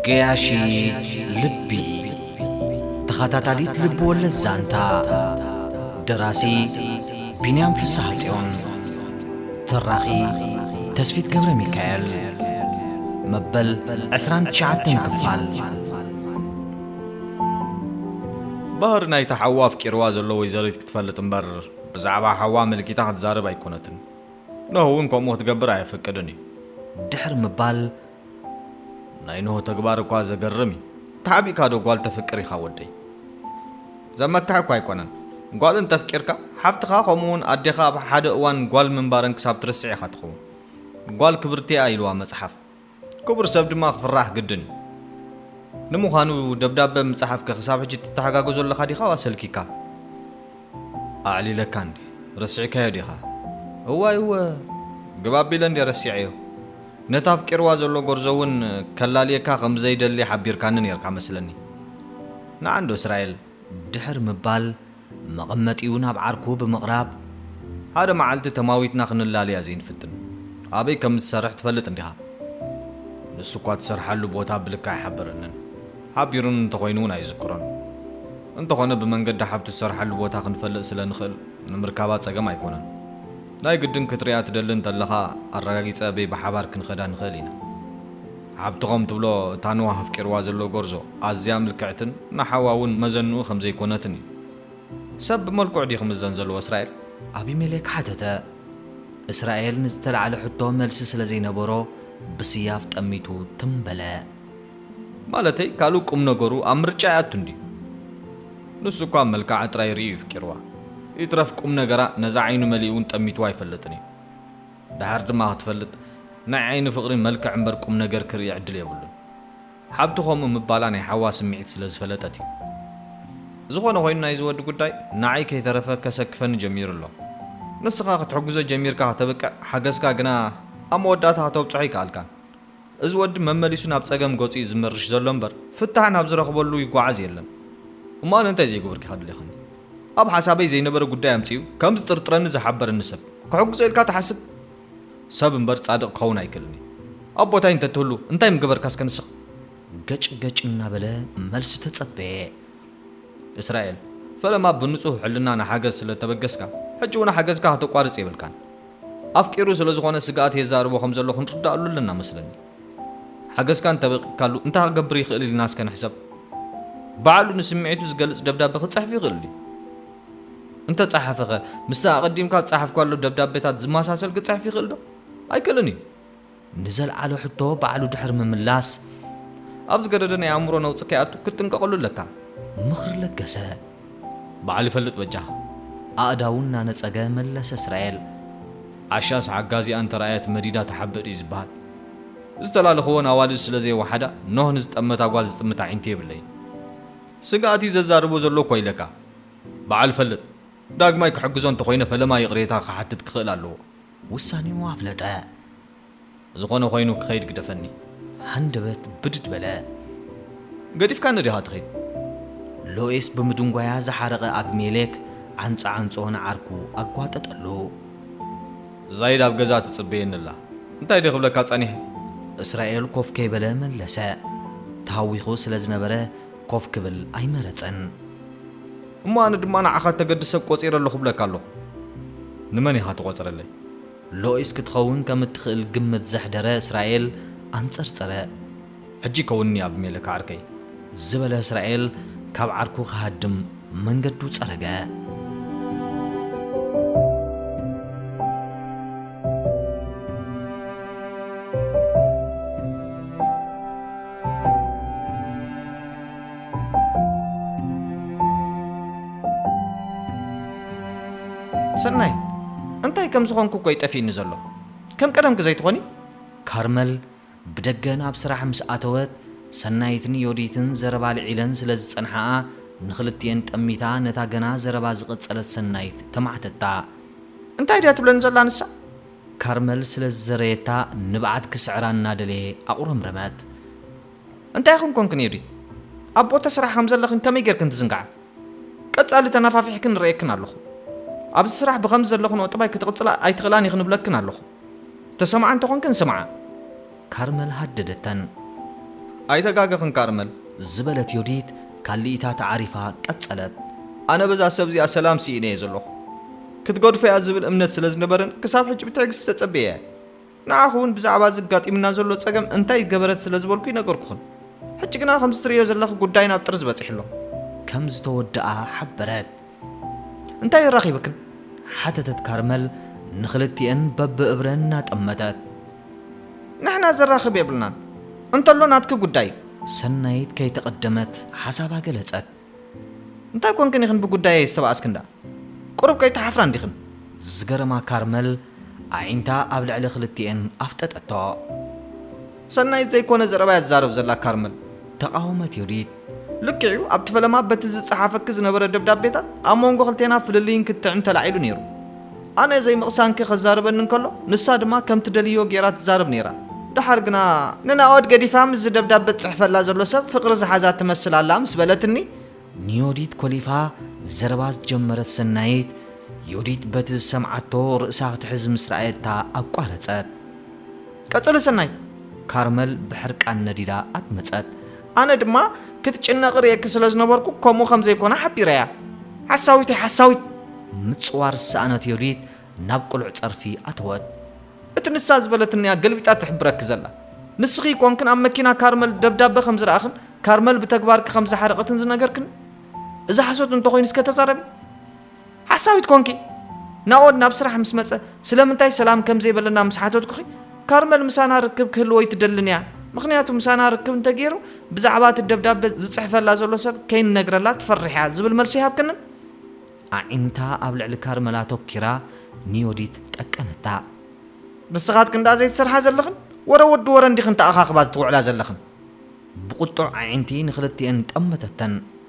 ገያሺ ልቢ ተኸታታሊት ልቢ ወለድ ዛንታ ደራሲ ቢንያም ፍስሐ ጽዮን ተራኺ ተስፊት ገብረ ሚካኤል መበል 29 ክፋል ባህር ናይታ ሓዋ ኣፍቂርዋ ዘሎ ወይዘሪት ክትፈልጥ እምበር ብዛዕባ ሓዋ ኣመልኪታ ክትዛረብ ኣይኮነትን፣ ኖህ እውን ከምኡ ክትገብር ኣየፍቅድን እዩ። ድሕሪ ምባል፣ ናይ ኖህ ተግባር እኳ ዘገርም እዩ፣ ተሓቢእካ ዶ ጓል ተፍቅር ኢኻ ወደይ? ዘመክሕ እኳ ኣይኮነን፣ ጓል እንተፍቂርካ ሓፍትኻ ከምኡ እውን ኣዴኻ ኣብ ሓደ እዋን ጓል ምንባረን ክሳብ ትርስዕ ኢኻ ትኸውን፣ ጓል ክብርቲ እያ ኢልዋ መጽሓፍ። ክቡር ሰብ ድማ ክፍራሕ ግድን እዩ። ንምዃኑ ደብዳበ ምጽሓፍከ ክሳብ ሕጂ ትተሓጋገዞ ኣለኻ ዲኻ ዋስ ሰልኪካ? ኣዕሊለካ እንድየ ረሲዕካዮ ዲኻ? እዋይ እወ ግብ ኣቢለ እንድየ ረሲዐዮ። ነቲ ኣፍቂርዋ ዘሎ ጎርዞ እውን ከላልየካ ከም ዘይደሊ ሓቢርካኒ ኔርካ መስለኒ። ንዓንዶ እስራኤል? ድሕሪ ምባል መቐመጢኡ ናብ ዓርኩ ብምቕራብ፣ ሓደ መዓልቲ ተማዊትና ክንላለያ ዘይንፍትን፣ ኣበይ ከም እትሰርሕ ትፈልጥ እንዲኻ? ንሱኳ እትሰርሓሉ ቦታ ብልክዕ ኣይሓበረንን፣ ሓቢሩኒ እንተኾይኑ'ውን ኣይዝክሮን። እንተኾነ ብመንገዲ ሓብቱ እትሰርሓሉ ቦታ ክንፈልጥ ስለ ንኽእል ንምርካባ ጸገም ኣይኮነን። ናይ ግድን ክትርእያ ትደሊ እንተለኻ ኣረጋጊጸ እበይ ብሓባር ክንኸዳ ንኽእል ኢና። ሓብቲ ከም ትብሎ እታ ንዋህ ኣፍቂርዋ ዘሎ ጎርዞ ኣዝያ ምልክዕትን ንሓዋ ውን መዘንኡ ከም ዘይኮነትን እዩ። ሰብ ብመልክዑ ድዩ ክምዘን ዘለዎ እስራኤል? ኣቢሜሌክ ሓተተ። እስራኤል ንዝተላዕለ ሕቶ መልሲ ስለ ዘይነበሮ ብስያፍ ጠሚቱ ትም በለ። ማለተይ ካልእ ቁም ነገሩ ኣብ ምርጫ ኣይኣቱን ድዩ? ንሱ እኳ መልክዓ ጥራይ ርእዩ እዩ ኣፍቂርዋ። ይትረፍ ቁም ነገራ ነዛ ዓይኑ መሊኡ ውን ጠሚትዋ ኣይፈልጥን እዩ። ደሓር ድማ ክትፈልጥ ናይ ዓይኒ ፍቕሪ መልክዕ እምበር ቁም ነገር ክርኢ ዕድል የብሉን። ሓብቱ ከምኡ ምባላ ናይ ሓዋ ስምዒት ስለ ዝፈለጠት እዩ። ዝኾነ ኮይኑ ናይዚ ወዲ ጉዳይ ንዓይ ከይተረፈ ከሰክፈኒ ጀሚሩ ኣሎ። ንስኻ ክትሕግዞ ጀሚርካ ከተብቅዕ ሓገዝካ ግና ኣብ መወዳእታ ከተብጽሖ ኣይከኣልካን። እዚ ወዲ መመሊሱ ናብ ጸገም ገጹ ዩ ዝምርሽ ዘሎ እምበር ፍታሕ ናብ ዝረኽበሉ ይጓዓዝ የለን እሞ ኣነ እንታይ ዘይገበርኩ ኢኻ ደሊኻኒ ኣብ ሓሳበይ ዘይነበረ ጉዳይ ኣምጺኡ ከም ዝጥርጥረኒ ዝሓበረኒ ሰብ ክሕግዞ ኢልካ ትሓስብ ሰብ እምበር ጻድቕ ክኸውን ኣይክእልን ዩ ኣብ ቦታይ እንተትህሉ እንታይ ምገበርካ እስከ ንስኻ ገጭ ገጭ እናበለ መልሲ ተጸበየ እስራኤል ፈለማ ብንጹህ ሕልና ንሓገዝ ስለ እተበገስካ ሕጂ ውን ሓገዝካ ከተቋርጽ የብልካን ኣፍቂሩ ስለ ዝኾነ ስግኣት የዛርቦ ከም ዘሎ ክንርድኣሉ ኣለና መስለኒ። ሓገዝካ እንተ በቂቅካሉ እንታይ ክገብር ይኽእል ኢልና እስከ ንሕሰብ። ብዓሉ ንስምዒቱ ዝገልጽ ደብዳበ ክጽሕፍ ይኽእል ድዩ? እንተ ጸሓፈኸ ምስቲ ኣቐዲምካ ዝጸሓፍካሉ ደብዳበታት ዝመሳሰል ክጽሕፍ ይኽእል ዶ? ኣይክእልን እዩ። ንዘልዓሎ ሕቶ ባዕሉ ድሕሪ ምምላስ፣ ኣብ ዝገደደ ናይ ኣእምሮ ነውጺ ከይኣቱ ክትጥንቀቐሉ ኣለካ። ምኽሪ ለገሰ። ባዕሉ ይፈልጥ በጃኻ። ኣእዳዉ እናነጸገ መለሰ እስራኤል። ዓሻስ ሓጋዚኣ እንተ ረኣየት መዲዳ ትሓብእ ድዩ ዝበሃል። ዝተላለኽወን ኣዋልድ ስለ ዘይወሓዳ ኖህ ንዝጠመታ ጓል ዝጥምት ኣዒንቲ የብለይን። ስግኣት እዩ ዘዛርቦ ዘሎ እኳ ኢለካ። ባዕሉ ይፈልጥ። ዳግማይ ክሕግዞ እንተ ኾይነ ፈለማ ይቕሬታ ክሓትት ክኽእል ኣለዎ። ውሳኔኡ ኣፍለጠ። ዝኾነ ኮይኑ ክኸይድ ግደፈኒ። ሃንደበት ብድድ በለ። ገዲፍካኒ ዲኻ ትኸይድ? ሎይስ ብምድንጓያ ዝሓረቐ ኣብሜሌክ ዓንጾ ዓንጾ ንዓርኩ ኣጓጠጠሉ። ዛይድ ኣብ ገዛ ትጽበየኒ ኣላ። እንታይ ድየ ክብለካ ጸኒሐ? እስራኤል ኮፍ ከይበለ መለሰ። ተሃዊኹ ስለ ዝነበረ ኮፍ ክብል ኣይመረጸን። እሞ ኣነ ድማ ንዓኻ እተገድስ ሰብ ቆጺረ ኣለኹ እብለካ ኣለኹ። ንመን ኢኻ ትቖጽረለይ? ሎኢስ ክትኸውን ከም እትኽእል ግምት ዘሕደረ እስራኤል ኣንጸርጸረ። ሕጂ ከውንኒ ኣቢሜለክ ዓርከይ፣ ዝበለ እስራኤል ካብ ዓርኩ ክሃድም መንገዱ ጸረገ። ሰናይት እንታይ ከም ዝኾንኩ እኮ እዩ ጠፊእኒ ዘሎ ከም ቀደምኪ ዘይትኾኒ ካርመል ብደገ ናብ ስራሕ ምስ ኣተወት ሰናይትን ዮዲትን ዘረባ ልዒለን ስለ ዝጸንሓኣ ንኽልቲኤን ጠሚታ ነታ ገና ዘረባ ዝቐጸለት ሰናይት ተማዕተታ እንታይ ድያ ትብለኒ ዘላ ንሳ ካርመል ስለ ዝዘረየታ ንብዓት ክስዕራ እናደለየ ኣቑረምረመት እንታይ ኹን ኮንክን ዮዲት ኣብ ቦታ ስራሕ ከም ዘለኽን ከመይ ጌርክን ትዝንግዓ ቀጻሊ ተናፋፊሕክን እርእየክን ኣለኹ ኣብዚ ስራሕ ብኸምዚ ዘለኽንኦ ጥባይ ክትቕጽላ ኣይትኽእላን ኢኽን እብለክን ኣለኹ ተሰምዓ እንተ ኾንክን ስምዓ ካርመል ሃደደተን። ኣይተጋገኽን ካርመል ዝበለት ዮዲት ካሊኢታ ተዓሪፋ ቀጸለት ኣነ በዛ ሰብ እዚኣ ሰላም ሲኢነዮ ዘለኹ ክትገድፎ እያ ዝብል እምነት ስለ ዝነበርን ክሳብ ሕጂ ብትዕግስቲ ተጸብየያ ንዓኹ እውን ብዛዕባ እዚ ኣጋጢሙና ዘሎ ጸገም እንታይ ገበረት ስለ ዝበልኩይ ነገርኩኽን። ሕጂ ግና ከምዚ ትርእዮ ዘለኺ ጉዳይ ናብ ጥርዚ በጺሑ ኣሎ። ከም ዝተወድኣ ሓበረት። እንታይ ኣራኺብክን? ሓተተት ካርመል ንኽልቲኤን በብእብረን እናጠመተት። ንሕና ዘራኽብ የብልናን፣ እንተሎ ናትኪ ጉዳይ እዩ። ሰናይት ከይተቐደመት ሓሳባ ገለጸት። እንታይ ኮንክን ኢኽን ብጉዳየይ ዝተባኣስክን ደኣ ቁሩብ ከይትሓፍራ እንዲኽን። ዝገረማ ካርመል ኣዒንታ ኣብ ልዕሊ ክልቲኤን ኣፍጠጠቶ። ሰናይት ዘይኮነ ዘረባ'ያ ትዛረብ ዘላ ካርመል። ተቓወመት ዮዲት። ልክዕ'ዩ ኣብቲ ፈለማ በቲ ዝጸሓፈኪ ዝነበረ ደብዳቤታት ኣብ መንጎ ክልቴና ፍልልይን ክትዕን ተላዒሉ ኔሩ። ኣነ ዘይምቕሳንኪ ከዛርበኒ እንከሎ ንሳ ድማ ከም ትደልዮ ጌራ ትዛረብ ኔራ ደሓር ግና። ንናኦድ ገዲፋ ምስዚ ደብዳበ ዝጽሕፈላ ዘሎ ሰብ ፍቕሪ ዝሓዛ ትመስል ኣላ ምስ በለትኒ። ንዮዲት ኮሊፋ ዘረባ ዝጀመረት ሰናይት፣ ዮዲት በቲ ዝሰምዓቶ ርእሳ ክትሕዝ ምስ ረኣየታ ኣቋረጸት። ቀጽሊ ሰናይት። ካርመል ብሕርቃን ነዲዳ ኣትመጸት። ኣነ ድማ ክትጭነቕ ርእየኪ ስለ ዝነበርኩ ከምኡ ከም ዘይኮነ ሓቢረያ። ሓሳዊት'ያ ሓሳዊት! ምጽዋር ዝሰኣነት ዮዲት ናብ ቅሉዕ ጸርፊ ኣተወት። እቲ ንሳ ዝበለትኒ'ያ ገልቢጣ ትሕብረኪ ዘላ። ንስኺ ኰንክን ኣብ መኪና ካርመል ደብዳበ ከም ዝረኣኽን ካርመል ብተግባርኪ ከም ዝሓረቐትን ዝነገርክኒ። እዚ ሓሶት እንተ ዀይኑ እስከ ተዛረቢ! ሓሳዊት ኮንኪ? ናኦድ ናብ ስራሕ ምስ መጸ ስለምንታይ ሰላም ከም ዘይበለና ምስ ሓተትኩኺ፣ ካርመል ምሳና ርክብ ክህልዎ ኣይትደልን እያ፣ ምኽንያቱ ምሳና ርክብ እንተገይሩ ብዛዕባ እቲ ደብዳበ ዝጽሕፈላ ዘሎ ሰብ ከይንነግረላ ትፈርሕ እያ ዝብል መልሲ ኣይሃብክንን? ኣዒንታ ኣብ ልዕሊ ካርመል ኣተኲራ ንዮዲት ጠቀነታ። ንስኻትክን ደኣ ዘይትሰርሓ ዘለኽን? ወረ ወዲ ወረ እንዲኽን ተኣኻኽባ ዝትውዕላ ዘለኽን? ብቝጡዕ ኣዒንቲ ንኽልቲኤን ጠመተተን።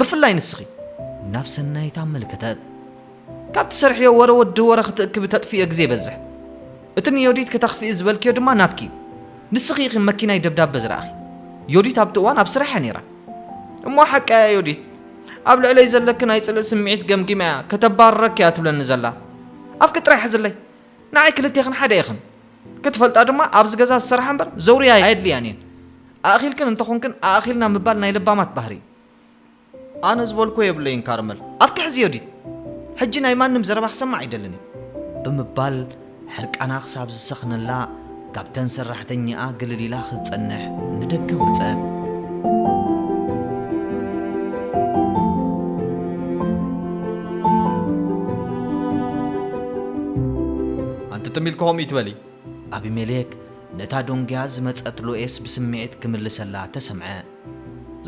ብፍላይ ንስኺ ናብ ሰናይት ኣመልከተት። ካብ ትሰርሕዮ ወረ ወዲ ወረ ክትእክቢ ተጥፍእዮ ግዜ ይበዝሕ። እቲ ንዮዲት ክተኽፍኢ ዝበልክዮ ድማ ናትኪ እዩ። ንስኺ ኢኺ መኪናይ ደብዳበ ዝረኣኺ። ዮዲት ኣብቲ እዋን ኣብ ስራሕ እያ ነይራ። እሞ ሓቃ እያ ዮዲት። ኣብ ልዕለይ ዘለኪ ናይ ጽልኢ ስምዒት ገምጊማ እያ ከተባርረኪ እያ ትብለኒ ዘላ። ኣፍኪ ጥራይ ሕዝለይ። ንዓይ ክልቴኽን ሓደ ኢኽን። ክትፈልጣ ድማ ኣብዚ ገዛ ዝሰርሓ እምበር ዘውርያ ኣየድልያን'የን። ኣእኺልክን እንተኾንክን ኣእኺልና ምባል ናይ ለባማት ባህሪ እዩ። ኣነ ዝበልኩዎ የብለይን ካርመል ኣፍኪ ሕዚ ዮዲት ሕጂ ናይ ማንም ዘረባ ክሰምዕ ኣይደልን እየ ብምባል ሕርቃና ክሳብ ዝሰኽነላ ካብተን ሰራሕተኛኣ ግልል ኢላ ክትጸንሕ ንደገ ወጸት። ኣንቲ ትም ኢልኪ ከምኡ እይትበሊ። ኣቢሜሌክ ነታ ዶንግያ ዝመጸት ሎኤስ ብስምዒት ክምልሰላ ተሰምዐ።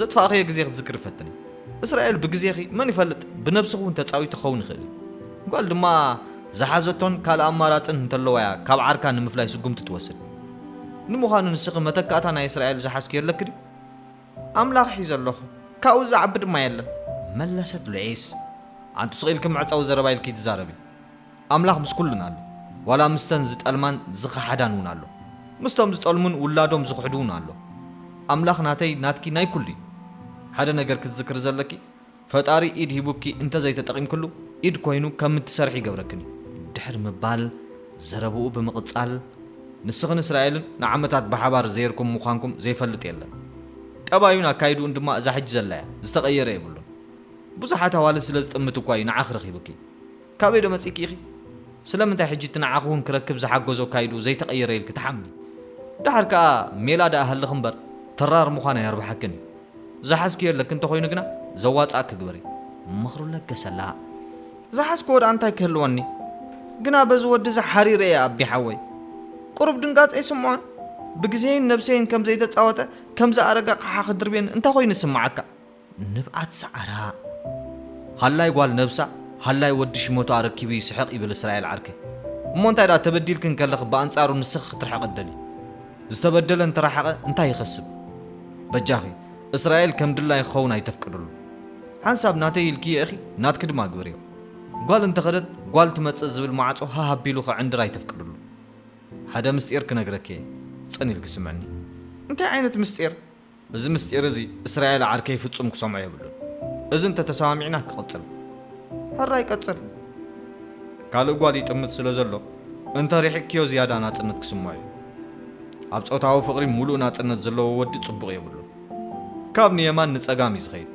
ዘጥፋእኽዮ ግዜ ክትዝክሪ ፈትኒ። እስራኤል ብግዜኺ መን ይፈልጥ ብነብስኺ እውን ተጻዊቱ ክኸውን ይኽእል እዩ። ጓል ድማ ዝሓዘቶን ካልእ ኣማራጽን እንተለዋ እያ ካብ ዓርካ ንምፍላይ ስጉምቲ ትወስድ። ንምዃኑ ንስኺ መተካእታ ናይ እስራኤል ዝሓዝክዮ ኣለኪ ድዩ? ኣምላኽ ሒዘ ኣለኹ። ካብኡ ዝዓቢ ድማ የለን። መለሰት ሉዒስ። ኣንቱ ስቕ ኢልኪ መዕጸዊ ዘረባ ኢልኪ ትዛረቢ። ኣምላኽ ምስ ኩሉን ኣሎ ዋላ ምስተን ዝጠልማን ዝኸሓዳን ውን ኣሎ ምስቶም ዝጠልሙን ውላዶም ዝኽሕዱ ውን ኣሎ ኣምላኽ ናተይ ናትኪ ናይ ኩሉ እዩ ሓደ ነገር ክትዝክሪ ዘለኪ ፈጣሪ ኢድ ሂቡኪ እንተዘይ ተጠቒምክሉ ኢድ ኮይኑ ከም እትሰርሒ ይገብረክን እዩ ድሕሪ ምባል ዘረብኡ ብምቕጻል ንስኽን እስራኤልን ንዓመታት ብሓባር ዘይርኩም ምዃንኩም ዘይፈልጥ የለን ጠባዩን ኣካይድኡን ድማ እዛ ሕጂ ዘላ እያ ዝተቐየረ የብሉን ብዙሓት ኣዋልድ ስለ ዝጥምት እኳ እዩ ንዓኺ ረኺቡኪ ካበይ ዶ መጺኪ ኢኪ ስለምንታይ ሕጂ እቲ ንዓኪ ውን ክረክብ ዝሓገዞ ኣካይድኡ ዘይተቀየረ ኢልኪ ትሓምሚ ድሓር ከኣ ሜላ ድኣ ሃልኪ እምበር ተራር ምኳን ኣየርብሓክን እዩ ዝሓዝክዮ ኣለኪ እንተኮይኑ ግና ዘዋጽኣኪ ግበሪ ምክሩ ለገሰላ። ዝሓዝክዎ ድኣ እንታይ ክህልወኒ ግና በዚ ወዲ እዚ ሓሪረ እየ ኣቢ ሓወይ ቁሩብ ድንጋጸ ኣይስምዖን ብግዜይን ነብሰይን ከም ዘይተጻወተ ከም ዝኣረገ ኣቅሓ ክድርብየኒ እንታይ ኮይኑ ዝስምዓካ ንብዓት ሰዓራ ሃላይ ጓል ነብሳ ሃላይ ወዲ ሽመቱ ኣረኪቡ ይስሕቅ ይብል እስራኤል ዓርከይ እሞ እንታይ ድኣ ተበዲልኪ እንከለኺ ብኣንጻሩ ንስኺ ክትርሕቂ ትደልዪ ዝተበደለ እንተረሓቀ እንታይ ይኸስብ በጃኺ እስራኤል ከም ድላዪ ክኸውን ኣይተፍቅድሉ ሓንሳብ ናተይ ኢልክዮ ኢኺ ናትኪ ድማ ግበርዮ ጓል እንተኸደት ጓል ትመጽእ ዝብል ማዕጾ ሃህ ኣቢሉ ክዕንድር ኣይተፍቅድሉ ሓደ ምስጢር ክነግረኪ እየ ጽን ኢልኪ ስምዕኒ እንታይ ዓይነት ምስጢር እዚ ምስጢር እዚ እስራኤል ዓርከይ ፍጹም ክሰምዖ የብሉን። እዚ እንተ ተሰማሚዕና ክቕጽል። ሕራይ ቀጽል። ካልእ ጓል ይጥምት ስለ ዘሎ እንተ ርሒቕክዮ ዝያዳ ናጽነት ክስምዖ እዩ። ኣብ ጾታዊ ፍቕሪ ምሉእ ናጽነት ዘለዎ ወዲ ጽቡቕ የብሉን። ካብ ንየማን ንጸጋም እዩ ዝኸይድ።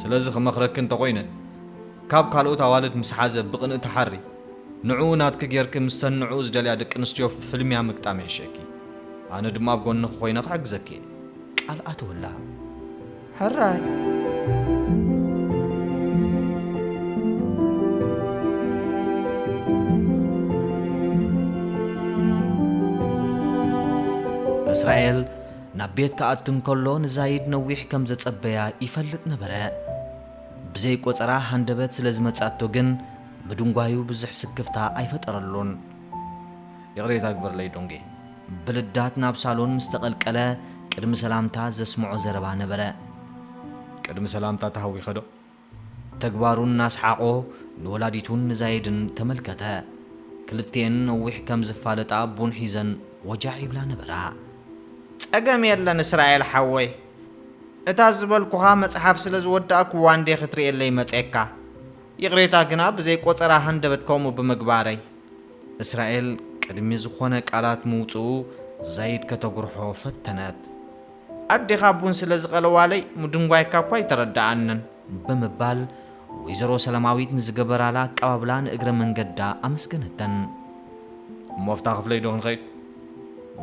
ስለዚ ክመኽረኪ እንተ ኾይነ ካብ ካልኦት ኣዋልድ ምስ ሓዘ ብቕንኢ ትሓሪ። ንዕኡ ናትኪ ጌርኪ ምስተን ንዕኡ ዝደልያ ደቂ ኣንስትዮ ፍልምያ ምግጣም ይሕሸኪ። ኣነ ድማ ኣብ ጎንኺ ኮይነ ክሕግዘኪ እየ። ቃል ኣተወላ። ሕራይ! እስራኤል ናብ ቤት ክኣቱ እንከሎ ንዛይድ ነዊሕ ከም ዘጸበያ ይፈልጥ ነበረ። ብዘይ ቆጸራ ሃንደበት ስለ ዝመጽኣቶ ግን ምድንጓዩ ብዙሕ ስክፍታ ኣይፈጠረሉን። ይቕሬታ ግበርለይ ዶንጌ። ብልዳት ናብ ሳሎን ምስ ተቐልቀለ ቅድሚ ሰላምታ ዘስምዖ ዘረባ ነበረ። ቅድሚ ሰላምታ ተሃዊኸዶ? ተግባሩ እናስሓቖ ንወላዲቱን ንዛይድን ተመልከተ። ክልቲኤን ነዊሕ ከም ዝፋለጣ ቡን ሒዘን ወጃዕ ይብላ ነበራ። ጸገም የለን እስራኤል ሓወይ። እታ ዝበልኩኻ መጽሓፍ ስለ ዝወዳእኩዋ እንድየ ክትርእየለይ መጼካ። ይቕሬታ ግና ብዘይ ቆጸራ ሃንደበት ከምኡ ብምግባረይ። እስራኤል ቅድሚ ዝኾነ ቃላት ምውጽኡ ዛይድ ከተጉርሖ ፈተነት። ኣዴኻ ቡን ስለ ዝቐለዋለይ ምድንጓይካ እኳ ኣይተረድኣንን። ብምባል ወይዘሮ ሰላማዊት ንዝገበራላ ኣቀባብላ ንእግረ መንገዳ ኣመስገነተን። እሞ ኣብታ ክፍለይዶ ክንኸይድ?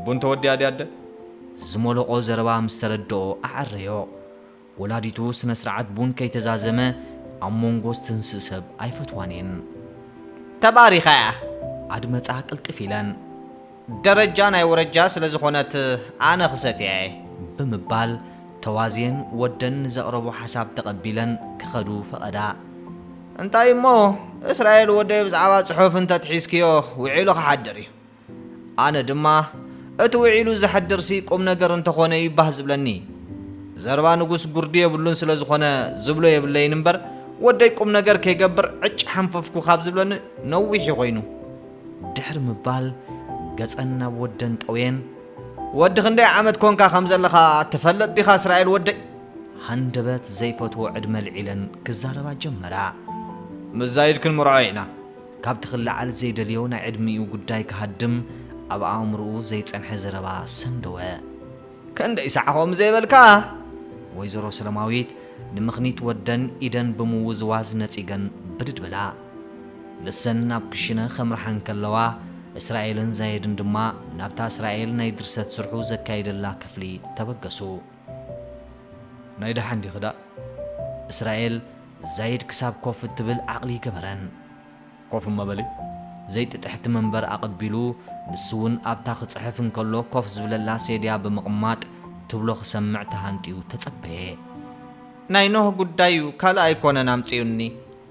ቡን ተወዲኣ ድያ ኣደ? ዝሞለቖ ዘረባ ምስ ተረድኦ ኣዐረዮ። ወላዲቱ ስነስርዓት ቡን ከይተዛዘመ ኣብ ሞንጎ ዝትንስእ ሰብ ኣይፈትዋን እየን። ተባሪኻ እያ ኣድመጻ ቅልጥፍ ኢለን። ደረጃ ናይ ወረጃ ስለ ዝኾነት ኣነ ክሰትያ እየ። ብምባል ተዋዝየን ወደን ንዘቕረቦ ሓሳብ ተቐቢለን ክኸዱ ፈቐዳ። እንታይ እሞ እስራኤል ወደይ ብዛዕባ ጽሑፍ እንተትሒዝክዮ ውዒሉ ክሓድር እዩ። ኣነ ድማ እቲ ውዒሉ ዝሐድርሲ ቁምነገር እንተኾነ እዩ ባህ ዝብለኒ። ዘረባ ንጉስ ጉርዲ የብሉን ስለዝኾነ ዝብሎ የብለይን እምበር ወደይ ቁምነገር ከይገብር ዕጭ ሐንፈፍኩ ካብ ዝብለኒ ነዊሕ እዩ ኮይኑ። ድሕሪ ምባል ገጸን ናብ ወደን ጠውየን። ወዲ ክንደይ ዓመት ኮንካ ከም ዘለኻ ትፈልጥ ዲኻ እስራኤል ወደይ? ሃንደበት ዘይፈትዎ ዕድመ ኣልዒለን ክዛረባ ጀመራ። ምስ ዛይድ ክንምርዖ ኢና። ካብቲ ክለዓል ዘይደልዮ ናይ ዕድሚኡ ጉዳይ ክሃድም ኣብ ኣእምሮኡ ዘይጸንሐ ዘረባ ሰንደወ። ከንደይ ሳዕ ከምኡ ዘይበልካ? ወይዘሮ ሰለማዊት ንምኽኒት ወደን ኢደን ብምውዝዋዝ ነጺገን ብድድ በላ። ንሰን ናብ ክሽነ ከምርሓ እንከለዋ እስራኤልን ዛይድን ድማ ናብታ እስራኤል ናይ ድርሰት ስርሑ ዘካይደላ ክፍሊ ተበገሱ። ናይ ደሓን ዲኺ ዳእ እስራኤል ዛይድ ክሳብ ኮፍ እትብል ዓቅሊ ይገበረን። ኮፍ እሞ በሊ ዘይጥጥሕቲ መንበር ኣቀቢሉ ንሱ ውን ኣብታ ክጽሕፍ እንከሎ ኮፍ ዝብለላ ሴድያ ብምቅማጥ ትብሎ ክሰምዕ ተሃንጥዩ ተጸበየ። ናይ ኖህ ጉዳይ ዩ ካልእ ኣይኮነን ኣምጺኡኒ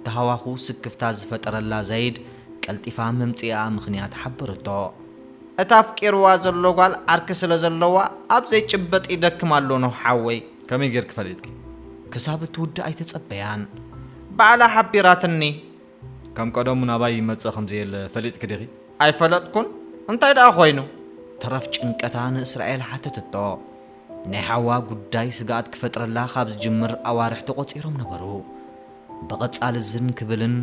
ተሃዋኹ ስክፍታ ዝፈጠረላ ዛይድ ቀልጢፋ መምጺኢኣ ምኽንያት ሓበረቶ። እታ ኣፍቂርዋ ዘሎ ጓል ዓርኪ ስለ ዘለዋ ኣብ ዘይጭበጥ ይደክም ኣሎ ኖህ ሓወይ ከመይ ጌርኪ ፈሊጥኪ ክሳብ እትውድእ ኣይተጸበያን ባዕላ ሓቢራትኒ ከም ቀደሙ ናባይ ይመጽእ ከም ዘየለ ፈሊጥኪ ዲኺ ኣይፈለጥኩን እንታይ ደኣ ኮይኑ ተረፍ ጭንቀታ ንእስራኤል ሓተተቶ ናይ ሓዋ ጉዳይ ስግኣት ክፈጥረላ ካብ ዝጅምር ኣዋርሕ ተቖጺሮም ነበሩ ብቐጻሊ ዝን ክብልን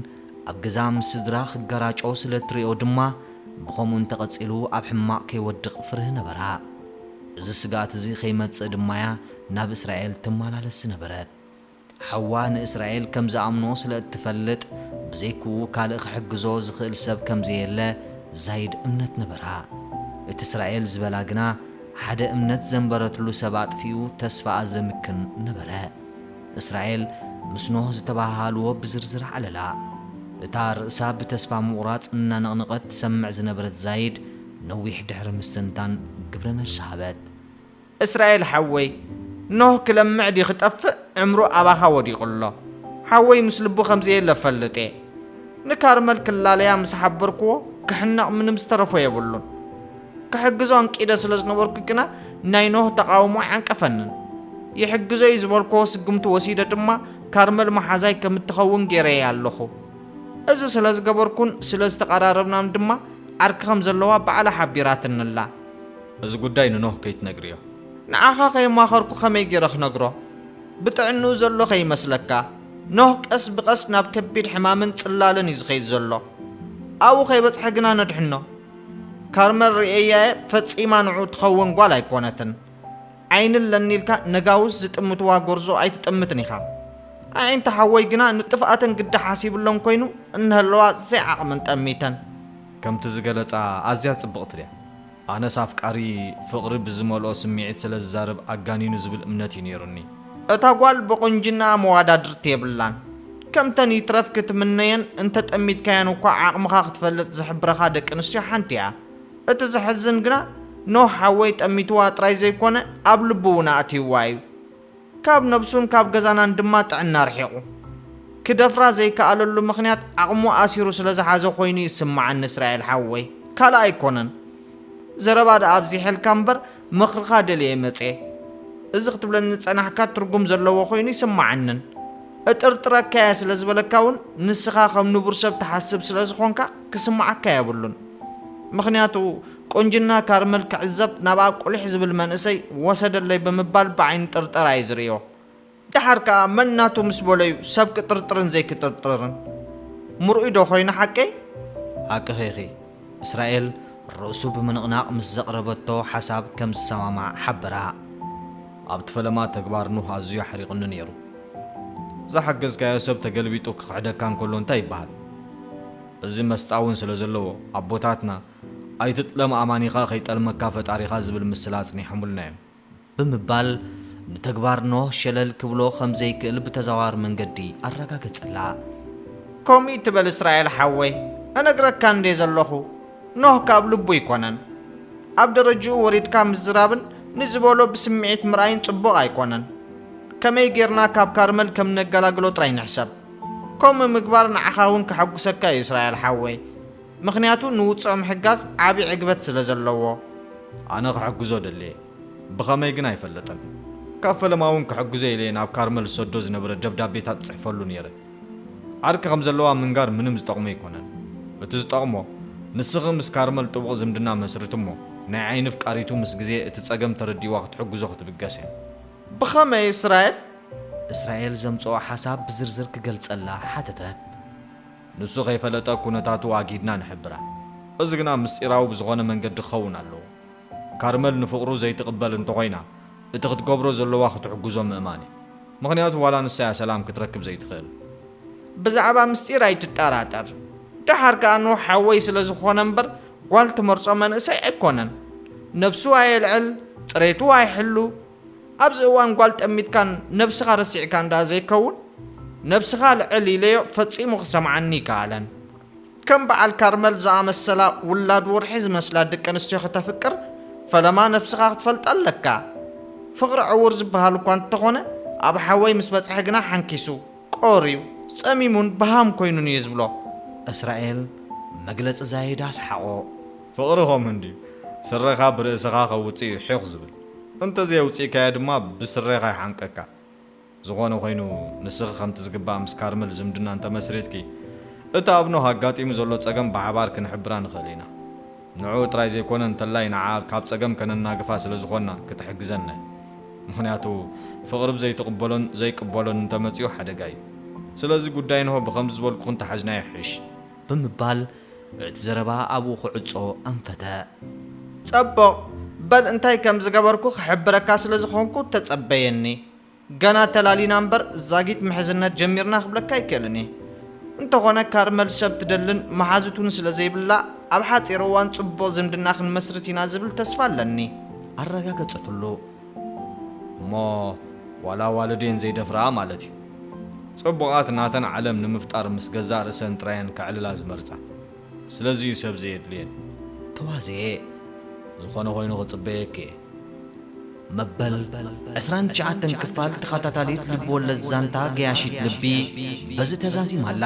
ኣብ ገዛ ምስ ስድራ ክገራጮ ስለ እትርእዮ ድማ ብኸምኡ እንተ ቐጺሉ ኣብ ሕማቕ ከይወድቕ ፍርህ ነበራ። እዚ ስግኣት እዚ ኸይመጽእ ድማ እያ ናብ እስራኤል ትመላለስ ዝነበረት። ሓዋ ንእስራኤል ከም ዝኣምኖ ስለ እትፈልጥ ብዘይክኡ ካልእ ኽሕግዞ ዝኽእል ሰብ ከም ዘየለ ዛይድ እምነት ነበራ። እቲ እስራኤል ዝበላ ግና ሓደ እምነት ዘንበረትሉ ሰብ ኣጥፊኡ ተስፋኣ ዘምክን ነበረ። እስራኤል ምስ ኖህ ዝተበሃሃልዎ ብዝርዝር ዓለላ። እታ ርእሳ ብተስፋ ምቑራጽ እናነቕነቐት ትሰምዕ ዝነበረት ዛይድ፣ ነዊሕ ድሕሪ ምስትንታን ግብረ መልሲ ሃበት። እስራኤል ሓወይ፣ ኖህ ክለምዕ ድዩ ክጠፍእ ዕምሩ ኣባኻ ወዲቑ ኣሎ። ሓወይ ምስ ልቡ ከም ዘየለ እፈልጥ'የ። ንካርመል ክላለያ ምስ ሓበርክዎ ክሕነቕ ምንም ዝተረፎ የብሉን። ክሕግዞ ኣንቂደ ስለ ዝነበርኩ ግና ናይ ኖህ ተቓውሞ ኣይዓንቀፈንን። ይሕግዞ እዩ ዝበልክዎ ስጉምቲ ወሲደ ድማ ካርመል መሓዛይ ከም እትኸውን ገይረያ ኣለኹ። እዚ ስለ ዝገበርኩን ስለ ዝተቐራረብናን ድማ ዓርኪ ከም ዘለዋ ባዕላ ሓቢራትኒ ኣላ። እዚ ጉዳይ ንኖህ ከይትነግርዮ። ንዓኻ ከየማኸርኩ ከመይ ገይረ ክነግሮ? ብጥዕንኡ ዘሎ ከይመስለካ። ኖህ ቀስ ብቐስ ናብ ከቢድ ሕማምን ጽላለን እዩ ዝኸይድ ዘሎ። ኣብኡ ከይበጽሐ ግና ነድሕኖ። ካርመል ርእየያየ ፈጺማ ንዑ ትኸውን ጓል ኣይኮነትን። ዓይኒ ኣለኒ ኢልካ ነጋውስ ዝጥምትዋ ጎርዞ ኣይትጥምትን ኢኻ። ኣዒንቲ ሓወይ ግና ንጥፍኣተን ግዲ ሓሲብሎን ኮይኑ እነሀለዋ ዘይዓቕመን ጠሚተን። ከምቲ ዝገለጻ ኣዝያ ጽብቕቲ ድያ? ኣነስ ኣፍቃሪ ፍቕሪ ብዝመልኦ ስምዒት ስለ ዝዛረብ ኣጋኒኑ ዝብል እምነት እዩ ነይሩኒ። እታ ጓል ብቁንጅናኣ መዋዳድርቲ የብላን ከምተን ይትረፍ ክትምነየን እንተጠሚትካየን እኳ ዓቅምኻ ክትፈልጥ ዝሕብረኻ ደቂ ኣንስትዮ ሓንቲ እያ እቲ ዘሕዝን ግና ኖህ ሓወይ ጠሚትዋ ጥራይ ዘይኮነ ኣብ ልቡ እውን ኣእትይዋ እዩ ካብ ነብሱን ካብ ገዛናን ድማ ጥዕና ኣርሒቁ ክደፍራ ዘይከኣለሉ ምኽንያት ዓቅሙ ኣሲሩ ስለ ዝሓዘ ኮይኑ ይስመዓኒ እስራኤል ሓወይ ካልእ ኣይኮነን ዘረባ ደኣ ኣብዚሐልካ እምበር ምኽርኻ ደልየ መጽየ። እዚ ክትብለኒ ዝጸናሕካ ትርጉም ዘለዎ ኮይኑ ኣይስማዓንን። እጥርጥረካ'የ ስለ ዝበለካ ውን ንስኻ ከም ንቡር ሰብ ትሓስብ ስለ ዝኾንካ ክስማዓካ የብሉን። ምኽንያቱ ቁንጅና ካርመል ክዕዘብ ናብኣ ቁሊሕ ዝብል መንእሰይ ወሰደለይ ብምባል ብዓይኒ ጥርጠራ እየ ዝርእዮ። ደሓር ከኣ መን ናቱ ምስ በሎ'ዩ ሰብ ክጥርጥርን ዘይክጥርጥርን? ምርኡይዶ ኮይኑ ሓቀይ? ሃቅኺ ኢኺ። እስራኤል ርእሱ ብምንቕናቕ ምስ ዘቕረበቶ ሓሳብ ከም ዝሰማማዕ ሓበራ። ኣብቲ ፈለማ ተግባር ኑህ ኣዝዩ ኣሕሪቑኒ ነይሩ። ዝሓገዝካዮ ሰብ ተገልቢጡ ክኽሕደካ እንከሎ እንታይ ይበሃል? እዚ መስጣ'ውን ስለ ዘለዎ ኣቦታትና ኣይትጥለም ኣማኒኻ ከይጠልመካ ፈጣሪኻ ዝብል ምስላ ኣጽኒሖምልና'ዮም። ብምባል ንተግባር ኖህ ሸለል ክብሎ ከም ዘይክእል ብተዘዋዋሪ መንገዲ ኣረጋገጸላ። ከምኡ እይትበል እስራኤል ሓወይ እነግረካ እንድየ ዘለኹ ኖህ ካብ ልቡ ኣይኮነን ኣብ ደረጅኡ ወሪድካ ምዝራብን ንዝበሎ ብስምዒት ምርኣይን ጽቡቕ ኣይኮነን ከመይ ጌርና ካብ ካርመል ከም ነገላግሎ ጥራይ ንሕሰብ ከምኡ ምግባር ንዓኻ ውን ከሐጉሰካ እዩ እስራኤል ሓወይ ምኽንያቱ ንውጽኦ ምሕጋዝ ዓቢ ዕግበት ስለ ዘለዎ። ኣነ ክሕግዞ ደሌ ብኸመይ ግን ኣይፈልጥን። ካብ ፈለማ እውን ክሕግዞ ኢለ'የ ናብ ካርመል ዝሰዶ ዝነበረ ደብዳቤታት ጽሕፈሉ ኔረ። ዓርኪ ከም ዘለዋ ምንጋር ምንም ዝጠቕሞ ኣይኮነን። እቲ ዝጠቕሞ ንስኺ ምስ ካርመል ጥቡቕ ዝምድና መስርቲ'ሞ ናይ ዓይኒ ኣፍቃሪቱ ምስ ግዜ እቲ ጸገም ተረዲእዋ ክትሕግዞ ክትብገስ እያ። ብኸመይ እስራኤል? እስራኤል ዘምጽኦ ሓሳብ ብዝርዝር ክገልጸላ ሓተተት። ንሱ ከይፈለጠ ኩነታቱ ኣግሂድና ንሕብራ። እዚ ግና ምስጢራዊ ብዝኾነ መንገዲ ክኸውን ኣለዎ። ካርመል ንፍቕሩ ዘይትቕበል እንተኾይና እቲ ክትገብሮ ዘለዋ ክትሕግዞ ምእማን እዩ። ምኽንያቱ ዋላ ንሳ እያ ሰላም ክትረክብ ዘይትኽእል። ብዛዕባ ምስጢር ኣይትጠራጠር። ደሓር ከኣ ኖህ ሓወይ ስለ ዝኾነ እምበር ጓል ትመርጾ መንእሰይ ኣይኮነን። ነብሱ ኣየልዕል፣ ጽሬቱ ኣይሕሉ፣ ኣብዚ እዋን ጓል ጠሚትካን ነብስኻ ረሲዕካን ደኣ ዘይከውን ነብስኻ ኣልዕል ኢለዮ ፈጺሙ ክሰምዓኒ ኣይከኣለን። ከም በዓል ካርመል ዝኣመሰላ ውላድ ወርሒ ዝመስላ ደቂ ኣንስትዮ ከተፍቅር ፈለማ ነብስኻ ክትፈልጣ ኣለካ። ፍቕሪ ዕዉር ዝበሃል እኳ እንተኾነ ኣብ ሓወይ ምስ በጽሐ ግና ሓንኪሱ፣ ቆርዩ፣ ጸሚሙን በሃም ኮይኑን እየ ዝብሎ። እስራኤል መግለጺ ዛይዳ ሰሓቖ። ፍቕሪ ከምኡ እንድዩ ስረኻ ብርእስኻ ከውጽእ እዩ ሒኽ ዝብል። እንተዘየውጺእካዮ ድማ ብስሬኻ ይሓንቀካ። ዝኾነ ኮይኑ ንስኺ ከምቲ ዝግባእ ምስ ካርመል ዝምድና እንተመስሪትኪ፣ እቲ ኣብ ኖህ ኣጋጢሙ ዘሎ ጸገም ብሓባር ክንሕብራ ንኽእል ኢና። ንዕኡ ጥራይ ዘይኮነ እንተላይ ንዓኣ ካብ ጸገም ከነናግፋ ስለ ዝኾንና ክትሕግዘና እያ። ምኽንያቱ ፍቕሪ ብዘይትቕበሎን ዘይቅበሎን እንተመጺኡ ሓደጋ እዩ። ስለዚ ጉዳይ ኖህ ብኸምዚ ዝበልኩኽን ተሓዝናዮ ይሕይሽ። ብምባል እቲ ዘረባ ኣብኡ ክዕጾ ኣንፈተ። ጸቡቕ፣ በል እንታይ ከም ዝገበርኩ ክሕብረካ ስለ ዝኾንኩ ተጸበየኒ። ገና ተላሊና እምበር ዛጊት ምሕዝነት ጀሚርና ክብለካ ኣይክእልን እየ። እንተኾነ ካርመል ሰብ ትደልን መሓዙት እውን ስለ ዘይብላ ኣብ ሓጺር እዋን ጽቡቕ ዝምድና ክንመስርት ኢና ዝብል ተስፋ ኣለኒ። ኣረጋገጸትሉ። እሞ ዋላ ኣዋልዴን ዘይደፍርኣ ማለት እዩ። ጽቡቓት ናተን ዓለም ንምፍጣር ምስ ገዛእ ርእሰን ጥራየን ከዕልላ ዝመርጻ። ስለዚ እዩ ሰብ ዘየድልየን። ተዋዘየ ዝኾነ ኮይኑ ክጽበየኪ እየ። መበል ዕስራን ትሽዓተን ክፋል ተኸታታሊት ልብወለድ ዛንታ ገያሺት ልቢ በዚ ተዛዚማ ኣላ።